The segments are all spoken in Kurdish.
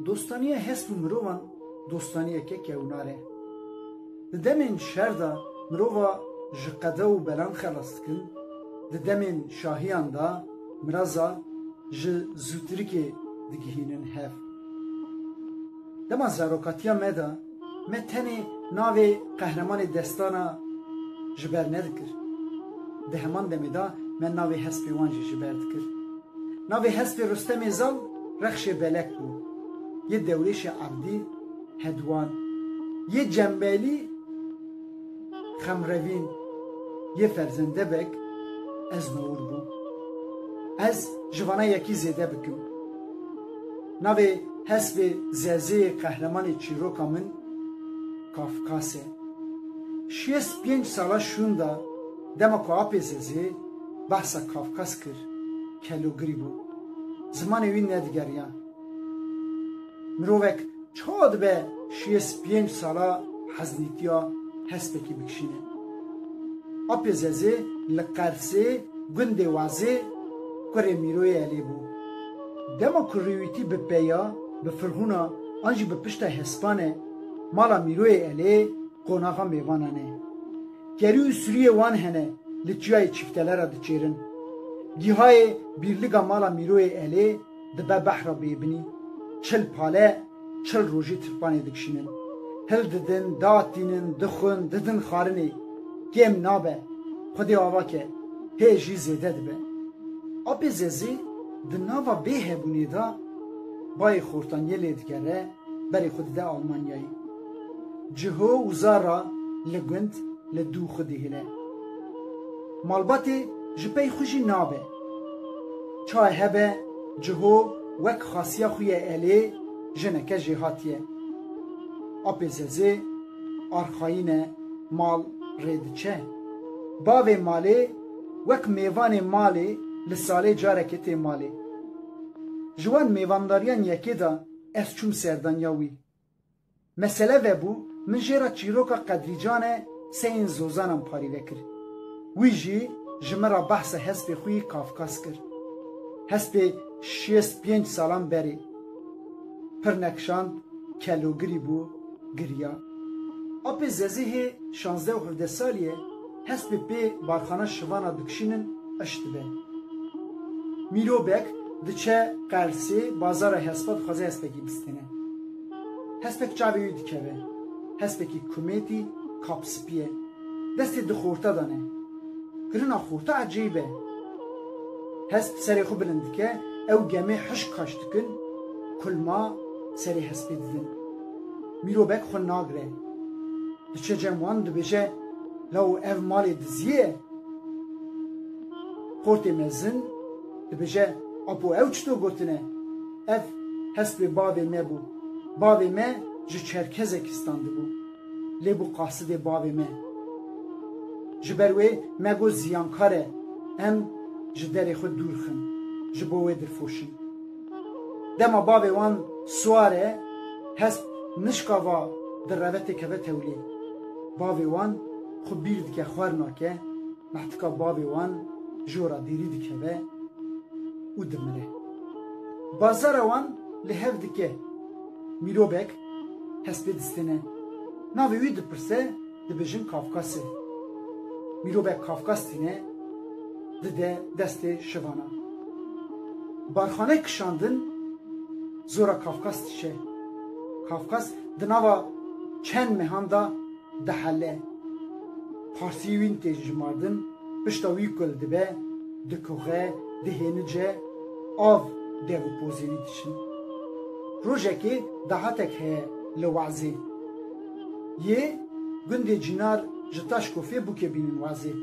Dostaniya hesp û mirovan dostaniyeke kewnar e. Di demên şer de mirova ji qede û belan xelas dikin, di demên şahiyan de miraza ji zûtirikê digihînin hev. Dema zarokatiya me de me tenê navê qehremanê destana ji ber nedikir. Di heman demê de me navê hespê wan jî ji ber dikir. Navê hespê Rustemê Zal Rexşê Belek bû. Yê dewrêşê Erdî, Hedwan, yê Cembelî, Xemrevîn, yê Ferzendebek, Eznowur bû. Ez ji vana yekî zêde bikim. Navê hespê zezeyê qehremanê çîroka min Kafkas e. Şêst pênc sala şûnda. Dema ku apê Zezê behsa Kafkas kir, kelogirî bû. Zimanê wî nedigeriya. Mirovek çawa dibe şiyê spîyênc sala heznîtiya hespekî bikişîne? Apê Zezê li Qersê gundê Wezê kurê Mîroyê Elê bû. Dema ku rûwîtî bi peya, bi firhûna an jî bi piştay hespane, mala Mîroyê Elê qonaxa mêvanan e. Kerî û sûriyê wan hene li çiyayê Çîftele re diçêrin. Gîhayê Bîrliga Mala Mîroyê Elê dibe behra bêbinî. Çil pale çil rojî tirpanê dikişînin. Hil didin, diatînin, dixwin, didin xarinê. Kêm nabe. Xwedê ava ke, hê jî zêde dibe. Apê Zezê di nava bêhebûnê de bayê xortaniyê lê digere. berê xwe dide Almanyayê. Ciho û Zara li gund li dû xwe dihêle. Malbatê ji pey xwe jî nabe. Çaye hebe Ciho wek xasiya xwe ye elê jineke jêhatiye. Apê Zezê arxayîne mal rê diçe. Bavê malê wek mêvanê malê li salê carekê tê malê. Ji wan mêvandariyan yekê de Ez çûm serdaniya wî. Mesele vebû min jê re çîroka Qedrîcan e seyên Zozanan parîve kir. Wî jî ji min re behsa hespê xwe yê Kafkas kir. Hespê şêst pênc salan berê. Pir nekişand, kelogirî bû, giriya. Apê Zezihê şazdeh û hevdeh salî ye. Hespê pê barxana şivana dikişînin qeş dibe. Mîrobek diçe Qersê bazara hespa dixwaze hespekî bistêne. Hespek çavê wî dikeve. Hespekî kumêtî kapspî ye. Destê di xorta de ne. Kirina xorta ecêyib e. Hesp serê xwe bilind dike, ew gemê hişk kaş dikin, kulma serê hespê didin. Mîrobek xwe nagire. Diçe cem wan dibêje Law ev malê diziyê ye. Qortê mezin dibêje Apo ew çi to gotine? Ev hespê bavê me bû. Bavê me ji Çerkezekistan dibû. Lê bû qasidê bavê me. Ji ber wê me got ziyankar e. Em ji derê xwe dûr xin. Ji bo wê dirfoşin. Dema bavê wan siwar e, hest nişkava di revetê keve tewlê. Bavê wan xwe bîr dike xwer nake, mehtika bavê wan ji we re dêrî dikeve û dimire. Bazara wan li hev dike. Mîrobek hestê distêne. Navê wî dipirse. Dibêjin Kafkasê. Mîrovek Kafkas tîne dide destê şivanan. Barxaneyê kişandin zora Kafkas diçe. Kafkas di nava çend mehan da dihele. Parsî wîn tê jimardin, pişta wî ku li dibe, dikuxe, dihênice, av dev û pozî wî diçin. Rojekê dahatek heye li Wezê. yê gundê Cînar ji Taşkofê bûkê bînin wazê.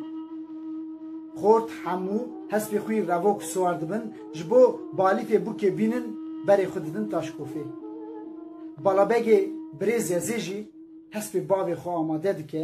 Xort, Hemû, hespê xwî revo ku siwar dibin, ji bo balîfê bûkê bînin berê xwe didin Taşkofê. Balabegê Birêz Yezê jî hespê bavê xwe amade dike.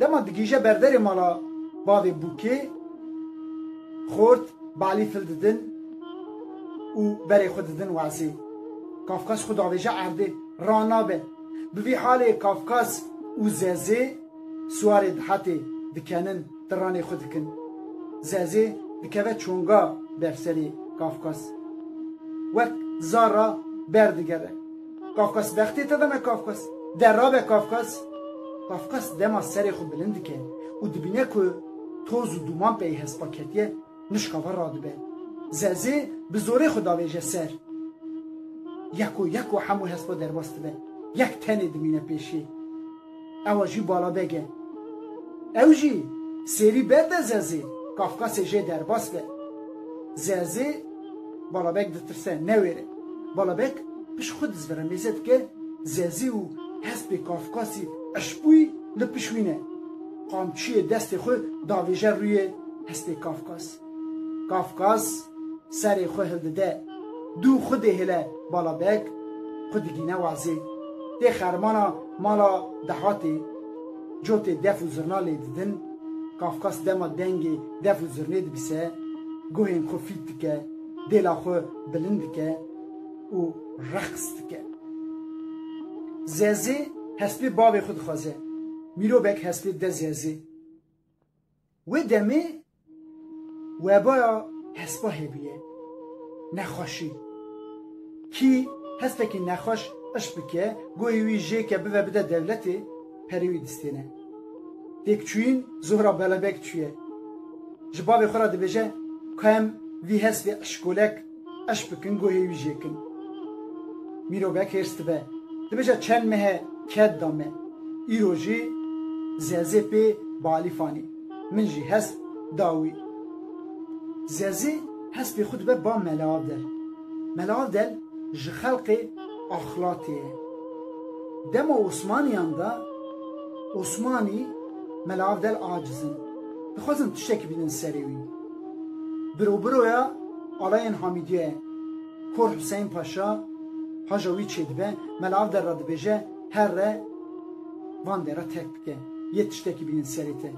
Dema digihîje berderê mala bavê Bûkê, xort, balî fil didin û berê xwe didin wazê. Kafkas xwe davêje erdê, ra nabe. Bi vî halê Kafkas û Zezê siwarê dihetê dikenin, tiranê xwe dikin. Zezê dikeve çonga ber serê Kafkas. Wek zar ra berdigere. Kafkas vextê te dana Kafkas, de rabe Kafkas. Kafkas dema serê xwe bilind dike û dibîne ku toz û dûman pey hespa ketiye, nuşkava radibe. Zezê bi zorê xwe davêje ser. Yeko yeko hemû hespa derbas dibe. Yek tenê dimîne pêşê. Ewa jî baladeg e. Ew jî sêrî berde zezê Kafkasê jê derbas be. Zezê baladeg ditirse, newêre. Baladeg pişt xwe dizvire mêze dike, zezê û hespê Kafkasî eşbûyî li pişt wî ne. Qamçiyê destê xwe davêje rûyê hespê Kafkas. Kafkas serê xwe hildide, dû xwe dihêle bala beg, xwe digîne wazê. Tê xermana mala dehatê, cotê def û zirna lê didin. Kafkas dema dengê def û zirnê dibise, guhên xwe fît dike, dêla xwe bilind dike û reqs dike. Zezê hespê bavê xwe dixwaze. Mîrobek hespê dide zezê. Wê demê webaya hespahê bûye, nexweşî. Kî hespekî nexweş ışq bike, goyê wî jê ke bive bide dewletê, perê wî distêne. Têkçûyîn Zuhra Belebek çûye. Ji bavê xwe re dibêje, Ka em vî hespê ışkolek, Eş bikin guhê wî jê kin. Mîrovek hêrs dibe. Dibêje çend mehe ked da me. Îro jî Zezê pê balîfanî. Min jî hesp da wî. Zezê hespê xwe dibe ba Melaavdel. Melaavdel ji xelkê Axlatê ye. Dema Osmaniyan de Osmanî Melaavdel aciz in. Dixwazin tiştekî bidin serê wî. Birobiroya alayên Hamîdiyê Kor Huseyn Paşa haja wî çêdibe, mela ev der re dibêje herre van dê re terk bike, yê tiştekî bînin serê te.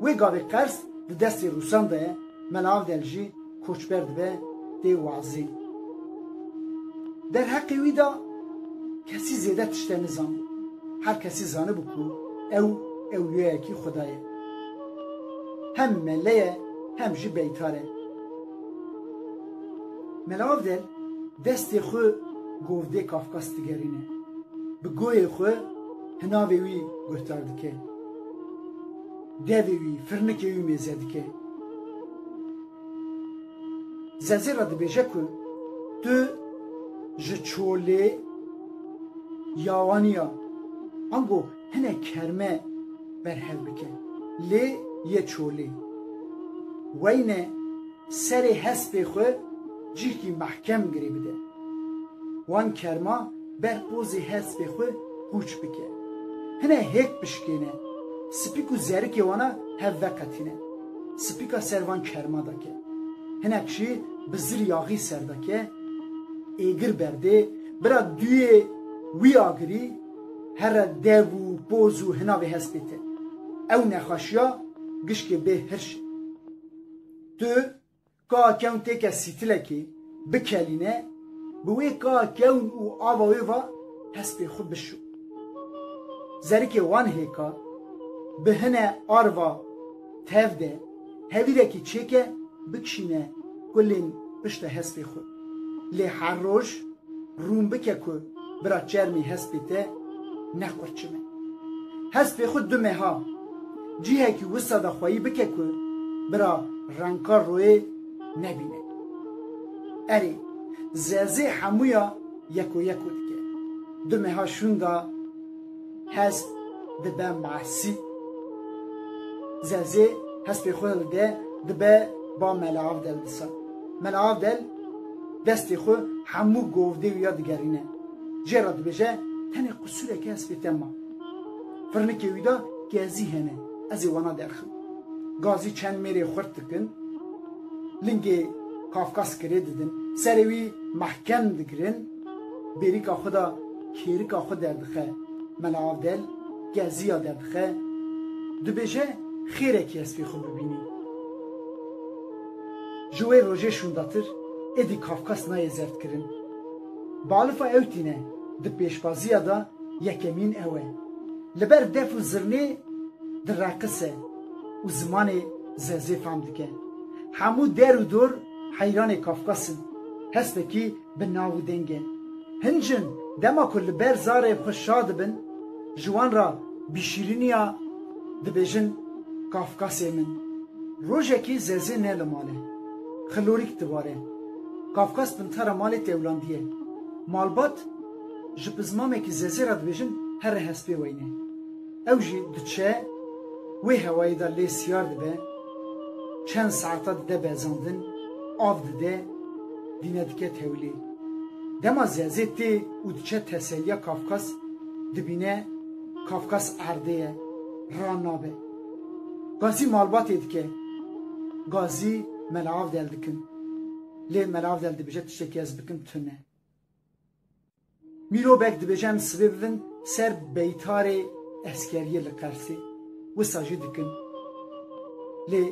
Wê gavê qers di destê Rûsan de ye, mela ev der jî koçber dibe tê wazê. Derheqê wî de kesî zêde tişte nizan. Her kesî zanibû ku ew ewliyayekî Xuda ye. Hem mele ye hem jî beytar e. Mela Avdel destê xwe govdê Kafkas digerîne. Bi goyê xwe hinavê wî guhtar dike. Devê wî, firnikê wî mêze dike. Zezê re dibêje ku tu ji çolê ya wan î ya. Ango Hinek kerme berhev bike. Lê yê çolê. Weyne serê hespê xwe cîhkî mehkem girê bide. Wan kerma ber pozê hespê xwe qûç bike. Hine hêk bişkêne. Spîk û zerikê wana hev veqetîne. Spîka ser van kerma de ke. Hinek jî bi zir yaxî ser de ke. Êgir berdê. Bira duyê wî agirî. Here dev û poz û hina vê hestê te. Ew nexweşiya gişkê bê hirş e. Tu ka kewn têke sîtilekê bikelîne, bi wê ka kewn û ava wê va hestê xwe bişo. Zerikê wan hêka bi hine arva Tev de hevîrekî çêke bikişîne kulên pişta hespê xwe. Lê her roj rûn bike ku bira çermê hespê te ne qurçim e. Hespê xwe du meha cihekî wisa de xweyî bike ku bira renka royê nebîne. Erê, zezê hemûya yeko yeko dike. Du meha şûnda. Hest dibe masî. Zezê hespê xwe dide dibe ba Mela Avdel disa. Mela Avdel destê xwe hemû govdê wî ya digerîne. Cê re dibêje tenê qusûreke hespê te ma. Firnikê wî de gezî hene. Ez ê wana derxim. Gazî çend mêrê xurt dikin. Lingê kafkas kirê didin. Serê wî mehkem digirin. Bêrîka xwe da kêrika xwe derdixe. Mela Avdel Geziya derdixe, dibêje xêrekî ez fê xwe bibînî. Ji wê rojê şûndatir êdî Kafkas nayê zerdkirin. Bi alifa ew tîne, di pêşbaziya da yekemîn ew e. Li ber def û zirnê direqise û zimanê zezê fam dike. Hemû der û dor heyranê Kafkas in. Hespekî Bi nav û dengê hin jin dema ku li ber zarê xwe şa dibin, ji wan re bi şîrîniya dibêjin Kafkasê min. Rojekê Zezê ne li mal e. Xilorîk dibare. Kafkas pintara malê tewlandî ye. Malbat ji pizmamekî Zezê re dibêjin here hespê weyne. Ew jî diçe wê hewayê de lê siyar dibe, çend saeta dide bezandin, av dide, dîne dike tewlê. Dema zezê tê û diçe teseliya Kafkas dibîne Kafkas erdê ye, ra nabe. Gazî malbatê dike, Gazî Mela Avdel dikin. Lê Mela Avdel dibêje tiştekî ez bikim tune. Mirobek dibêje em sibê bibin ser beytarê eskeriyê li Qersê, wisa jî dikin. Lê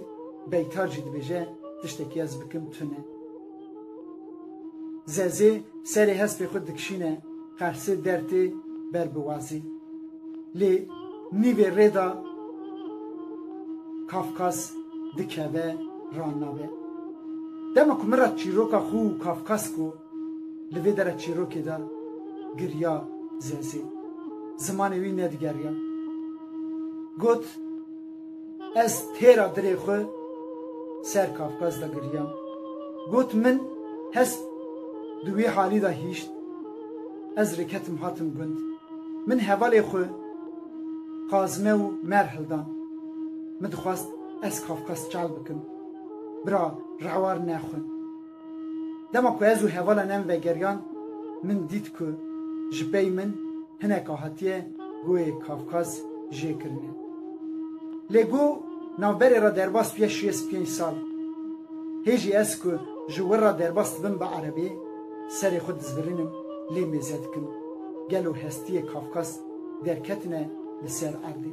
beytar jî dibêje tiştekî ez bikim tune. Zezê serê hespê xwe dikişîne Qersê der tê ber bi wazê. Lê nîvê rê de Kafkas dikeve ranabe. Dema ku min re çîroka xwe û Kafkas ku Li vê dere çîrokê de giriya zenzîn. Zimanê wî nedigeriya. Got, Ez têra dirê xwe ser Kafkaz de giriyam. Got, Min hest di wî halî de hîşt. Ez rêketim hatim gund. Min hevalê xwe Kazime û Mer hildan. Min dixwest ez Kafkaz çal bikim. Bira rewar nexwin. Dema ku ez û hevala nem vegeriyan min dît ku ji pey min hinek a hatiye Goyê Kavkaz jê kirine. Lê Go navberê re derbas bûye şêst pênc sal. Hê jî ez ku ji wir re derbas dibim bi erebê, serê xwe dizbirînim lê mêze dikim. Gelo hestiyê Kavkaz derketine li ser erdê?